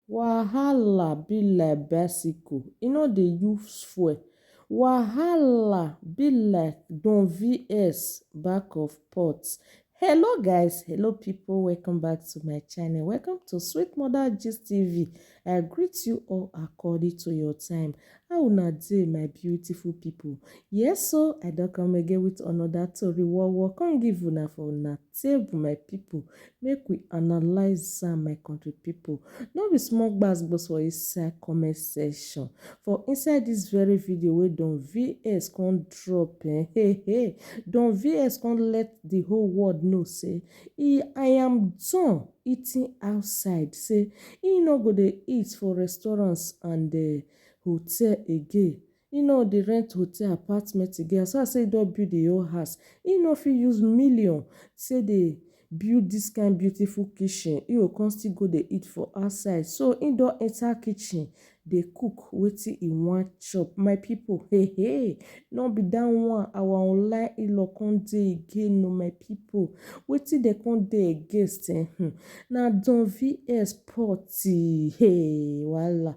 Wahala be like bicycle, e no dey use fuel. Wahala be like don vs back of pot. Hello guys, hello pipu welcome back to my channel, welcome to Sweet Mother Gist TV. I greet you all according to your time. How una dey my beautiful pipu? Yes o, I don come again with another tori wowo come give una for una Save my people, make we analyze am my country people, no be small gbas gbos for inside comment section for inside this very video wey Don VS come drop eh, hey hey, Don VS come let the whole world know say e I am done eating outside say e no go dey eat for restaurants and uh, hotel again. He no dey rent hotel apartment again as far as sey he don build him own house he no fit use million take dey build this kind beautiful kitchen he go come still go dey eat for outside so he don enter kitchen dey cook wetin he wan chop my people hehe no be that one our online in-law come dey again o my people wetin dem come dey against um na Don VS Port um wahala.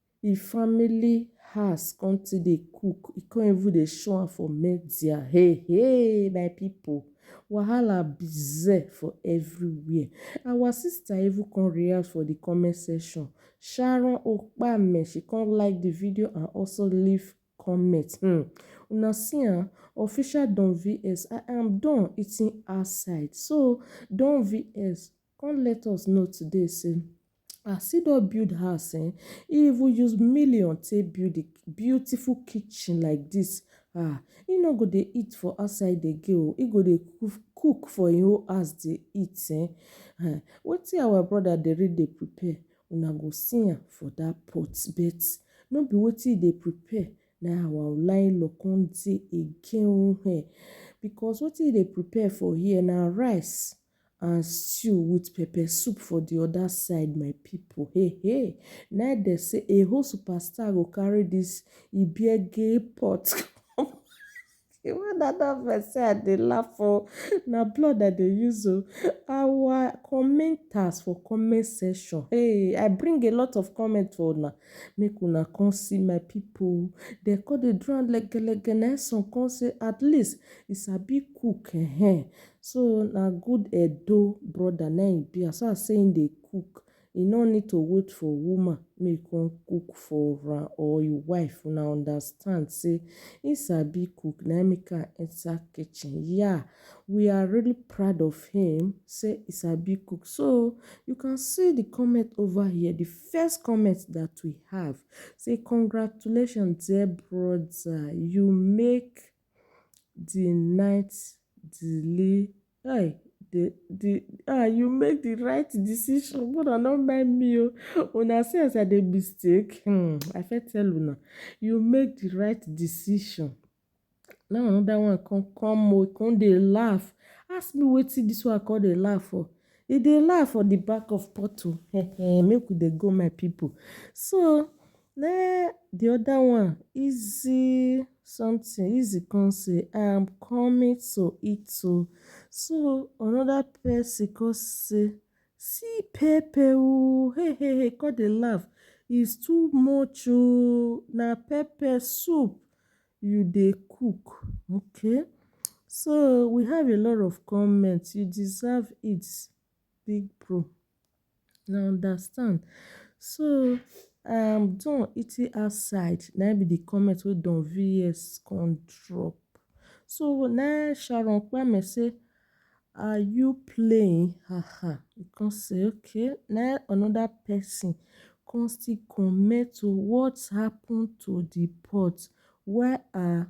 He family house come still dey cook, he come even dey show am for media hey hey my people wahala bize for everywhere our sister even come react for the comment section Sharon Okpame she come like the video and also leave comment hmm una see am official Don VS I am done eating outside so Don VS Come let us know today say as he don build house um he even use million take build the beautiful kitchen like this um he no go dey eat for outside again o he go dey cook for him own house dey eat um wetin our brother dey really dey prepare una go see am for that pot bet no be wetin he dey prepare na him our oga in law come dey again o um because wetin he dey prepare for here na rice. And stew with pepper soup for the other side my people hey hey na im dem say a whole superstar go carry this ibiege pot come the one na that vex say i dey laugh o na blood i dey use o our commenters for comment section hey i bring a lot of comment for una make una come see my people dem come dey do am legelege na im some come say at least he sabi cook ehen So na good Edo brother na im e be as far as sey im dey cook e no need to wait for woman make e come cook for am or im wife una understand sey im sabi cook na im make am enter kitchen yeah we are really proud of him sey e sabi cook so you can see the comment over here the first comment that we have sey congratulations dear brother you make the night delay Hey, the the ah you make the right decision but I no mind me o una see as I dey mistake hmm I fit tell una you make the right decision now another one come come o come dey laugh ask me wetin this one come dey laugh for e dey laugh for the back of pot o make we dey go my people so Neh the other one easy something easy come say I am coming to eat oo so another person come say see pepper oo hey hey hey come dey laugh is too much oo na pepper soup you dey cook okay so we have a lot of comments you deserve it. Big bro, na understand. So I am done eating outside na im be the comment wey Don VS come drop. So na im Sharon Kpame say are you playing ha ha. I come say okay. Na im another person come still comment o what happened to the pot where are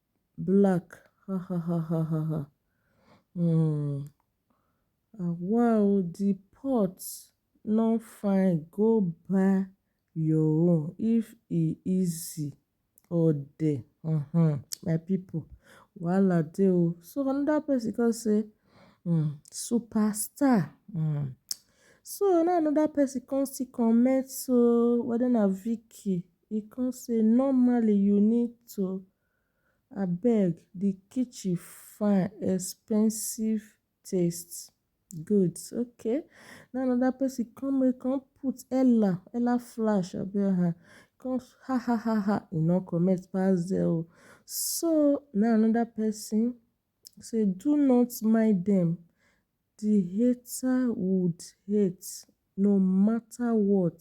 black hahahahahaha um awa o di pot no fine go buy your own if e easy ode um my pipu wahala dey o so anoda pesin kon sey um super star um so na anoda pesin kon still comment sey weda na Vicky E come say normally you need to abeg di kitchen fine expensive taste goods okay na anoda pesin come make come put ella ella flash abi aha come ha ha ha ha e no comment pass there o so na anoda pesin. He say do not mind dem di hater would hate no matter what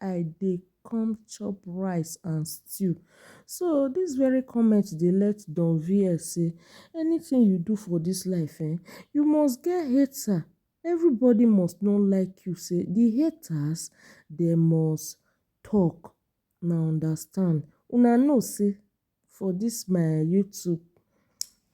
I dey come chop rice and stew so dis very comment dey let Don VL say anything you do for dis life um you must get hater everybody must no like you say di haters dem must talk una understand una know say. For this my YouTube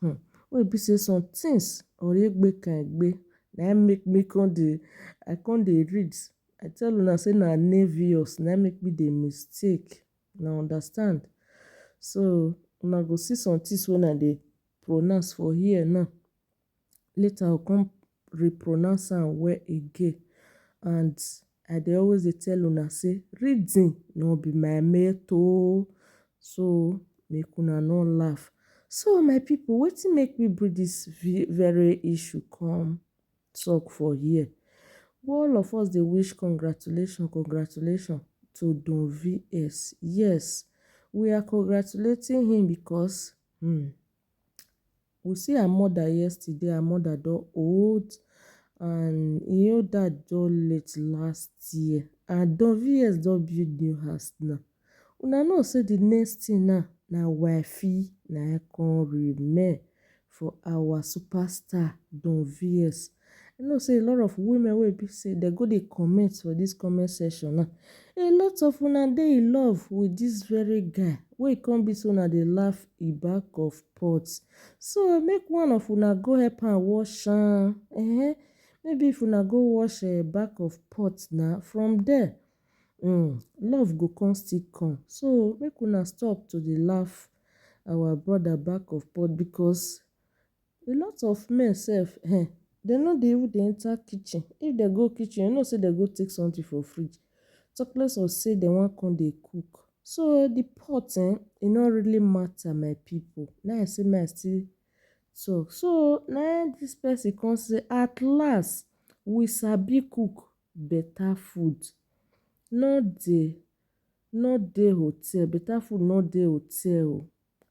um wey e be sey some things oregbekanegbe na im make me come dey, I come dey read. I tell una sey na envious na im make me dey mistake, una understand. So una go see some things wey una dey pronounce for here now. later I go come repronounce am well again and I dey always dey tell una sey reading no be my mate oh, so make una no laugh. So my pipu wetin make me bring dis very issue come talk for here, all of us dey wish congratulations congratulations to Don VS, yes we are congratulating him because um We see her mother yesterday, her mother don old and im own dad don late last year and Don VS don build new house now. Una know say the next thing now na wifey na im come remain for our superstar Don VS. I know sey a lot of women wey e be sey dem go dey comment for dis comment section now, a lot of una dey in love with dis very guy wey e come be sey una dey laugh in back of pot, so make one of una go help am wash am ehen, maybe if una go wash im back of pot na from there um love go come still come, so make una stop to dey laugh our brother back of pot because. A lot of men sef um dey no dey even dey enter kitchen, if dem go kitchen you know sey dem go take something for fridge talk less of sey dem wan come dey cook. So de pot um e no really matter my pipu na im I sey make I still talk. So na im dis person come sey at last we sabi cook better food no dey no dey hotel better food no dey hotel oo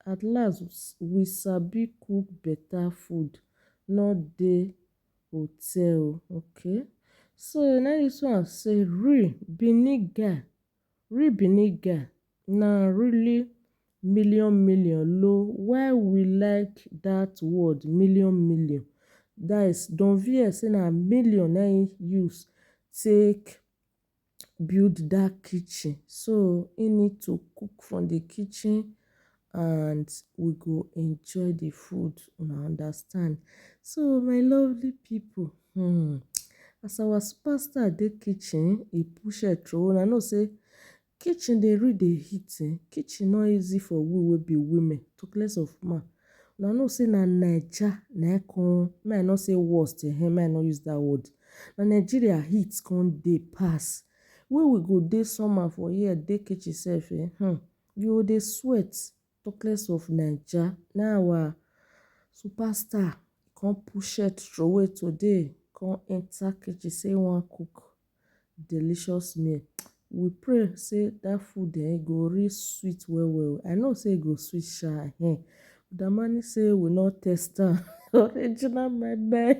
At last we sabi cook beta food no dey hotel okay so na im dis one say real benin guy real benin guy na really million million lo why we like dat word million million dat is don vex say na million na im use take build dat kitchen so im need to cook from the kitchen and we go enjoy the food una understand. So my lovely people um as our super star dey kitchen e push head throway una know sey kitchen dey really dey heat um kitchen no easy for we wey be women talk less of man Una know say na Naija na im come make I no say worst ehen make I no use that word na Nigeria heat come dey pass wey we go dey somehow for here dey kitchen sef eh hmm you go dey sweat talk less of Naija na our super star come push shirt throway today come enter kitchen say e wan cook. delicious meal. We pray sey dat food um go really sweet well well. I know sey e go sweet sha um. Damani sey we no taste am original moi moi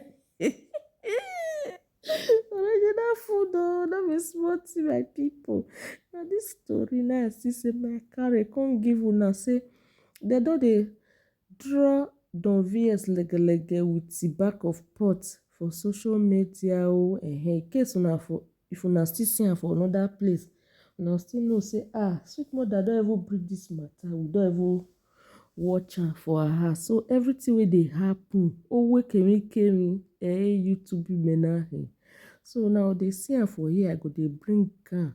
original food oh no be small thing my pipu. Na dis tori na I see sey make I carry come give una sey dem don dey Draw don vs legelege with the back of pot for social media oh ehe in case una for if una still see am for another place una go still know say ah sweet mother don even bring this matter we don even watch am for her house so everything wey dey happen owe kemi kemi eh YouTube mena eh so una go dey see am for here I go dey bring am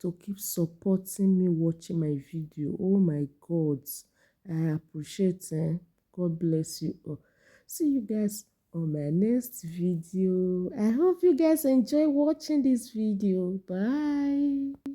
to keep supporting me watching my video oh my god i appreciate eh god bless you all see you guys on my next video i hope you guys enjoy watching this video bye